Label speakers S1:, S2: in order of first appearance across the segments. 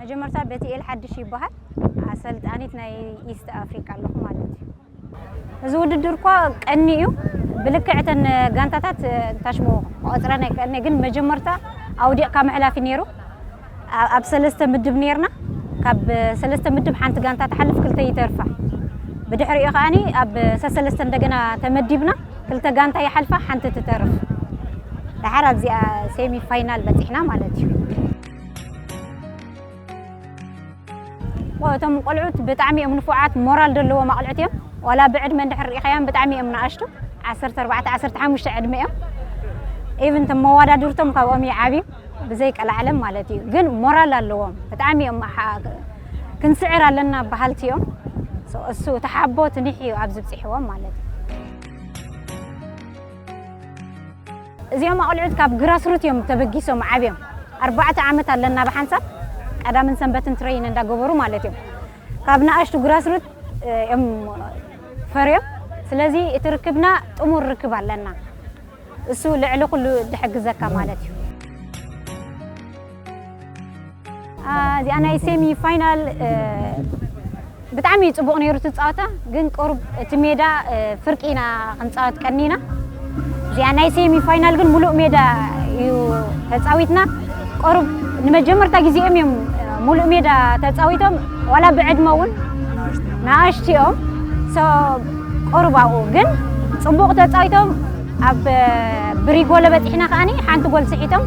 S1: መጀመርታ በቲኤል ሓድሽ ይበሃል። ኣሰልጣኒት ናይ ኢስት ኣፍሪቃ ኣለኹ ማለት እዩ። እዚ ውድድር እኳ ቀኒ እዩ ብልክዕ እተን ጋንታታት ታሽሞ ክቆፅረን ኣይክእልነ ግን መጀመርታ ኣውዲቕካ ምሕላፍ እዩ ነይሩ። ኣብ ሰለስተ ምድብ ነርና ካብ ሰለስተ ምድብ ሓንቲ ጋንታ ትሓልፍ ክልተ ይተርፋ ብድሕሪኡ ከዓኒ ኣብ ሰሰለስተ እንደገና ተመዲብና ክልተ ጋንታ ይሓልፋ ሓንቲ ትተርፍ ደሓር ኣብዚኣ ሴሚ ፋይናል በፂሕና ማለት እዩ እቶም ቆልዑት ብጣዕሚ እዮም ንፉዓት ሞራል ዘለዎም ኣቕልዕት እዮም ዋላ ብዕድመ እንድሕር ርኢኻዮም ብጣዕሚ እዮም ንኣሽቱ ዓሰርተ ኣርባዕተ ዓሰርተ ሓሙሽተ ዕድመ እዮም ኢቭን ቶም መወዳድርቶም ካብኦም ይዓብዩ ብዘይ ቀላዓለም ማለት እዩ ግን ሞራል ኣለዎም ብጣዕሚ እዮም ክንስዕር ኣለና በሃልቲ እዮም እሱ ተሓቦ ትኒሕ እዩ ኣብ ዝብፅሕዎም ማለት እዩ እዚኦም ኣቕልዑት ካብ ግራስሩት እዮም ተበጊሶም ዓብዮም ኣርባዕተ ዓመት ኣለና ብሓንሳብ ቀዳምን ሰንበትን ትረይን እንዳገበሩ ማለት እዮም ካብ ንኣሽቱ ግራስሩት እዮም ፈርዮም ስለዚ እቲ ርክብና ጥሙር ርክብ ኣለና እሱ ልዕሊ ኩሉ ዝሕግዘካ ማለት እዩ እዚኣ ናይ ሴሚ ፋይናል ብጣዕሚ ፅቡቕ ነይሩ እቲ ፀዋታ ግን ቁሩብ እቲ ሜዳ ፍርቂ ኢና ክንፃወት ቀኒና እዚኣ ናይ ሴሚ ፋይናል ግን ሙሉእ ሜዳ እዩ ተፃዊትና ቁሩብ ንመጀመርታ ግዜኦም እዮም ሙሉእ ሜዳ ተፃዊቶም ዋላ ብዕድመ እውን ንኣሽቲ እዮም ቁሩብ ኣብኡ ግን ፅቡቕ ተፃዊቶም ኣብ ብሪጎለ በጺሕና ከኣ ሓንቲ ጎል ስሒቶም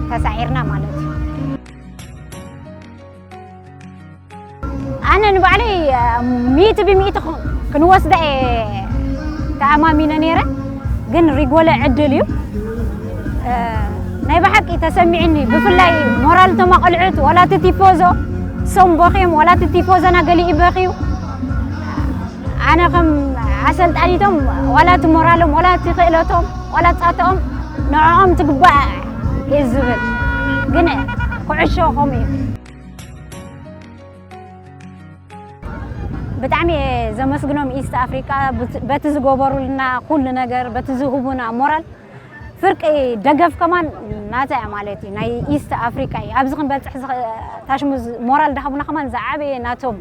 S1: ተሳዒርና ማለት እዩ ኣነ ንባዕለይ ሚእቲ ብሚእቲ ክንወስዳ እየ ተኣማሚነ ነይረ ግን ሪጎለ ዕድል እዩ ናይ ብሓቂ ተሰሚዕኒ ብፍላይ ሞራል እቶም ኣቐልዑት ዋላ እቲ ቲፖዞ ሶም ቦኺም ዋላ እቲ ቲፖዘና ገሊኡ በኺዩ ኣነ ከም ኣሰልጣኒቶም ዋላ እቲ ሞራሎም ዋላ እቲ ክእለቶም ዋላ ፃትኦም ንዕኦም ትግባእ እዩ ዝብል ግን ኩዕሾ ከምኡ እዩ ብጣዕሚ እየ ዘመስግኖም ኢስት ኣፍሪቃ በቲ ዝገበሩልና ኩሉ ነገር በቲ ዝህቡና ሞራል ፍርቂ ደገፍ ከማን ናታ እያ ማለት እዩ ናይ ኢስት ኣፍሪቃ እዩ ኣብዚ ክንበፅሕ ታሽሙ ሞራል ዳሃቡና ከማን ዝዓበየ ናቶም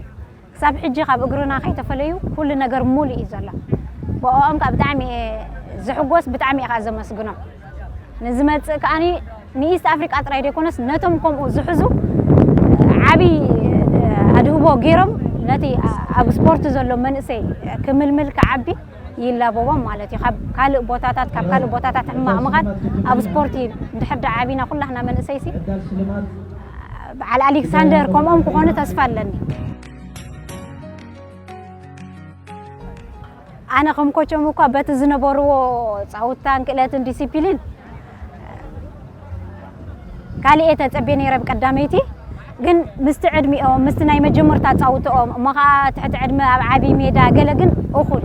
S1: ክሳብ ሕጂ ካብ እግርና ከይተፈለዩ ኩሉ ነገር ሙሉእ እዩ ዘሎ ብኦኦም ከኣ ብጣዕሚ እየ ዝሕጎስ ብጣዕሚ እየ ከኣ ዘመስግኖም ንዝመጽእ ከኣ ንኢስት ኣፍሪቃ ጥራይ ደይኮነስ ነቶም ከምኡ ዝሕዙ ዓቢ ኣድህቦ ጌሮም ነቲ ኣብ ስፖርት ዘሎ መንእሰይ ክምልምል ክዓቢ ይላበቦም ማለት እዩ ካብ ካልእ ቦታታት ካብ ካልእ ቦታታት ሕማቕ ምኻድ ኣብ ስፖርቲ ድሕር ዳኣ ዓቢና ኩላህና መንእሰይሲ በዓል ኣሌክሳንደር ከምኦም ክኾኑ ተስፋ ኣለኒ ኣነ ከም ኮቸም እኳ በቲ ዝነበርዎ ፃውታን ክእለትን ዲሲፕሊን ካልእ ተፀቤ ነይረ ብቀዳመይቲ ግን ምስቲ ዕድሚኦም ምስቲ ናይ መጀመርታ ፃውትኦም እሞ ከዓ ትሕቲ ዕድመ ኣብ ዓብዪ ሜዳ ገለ ግን እኹል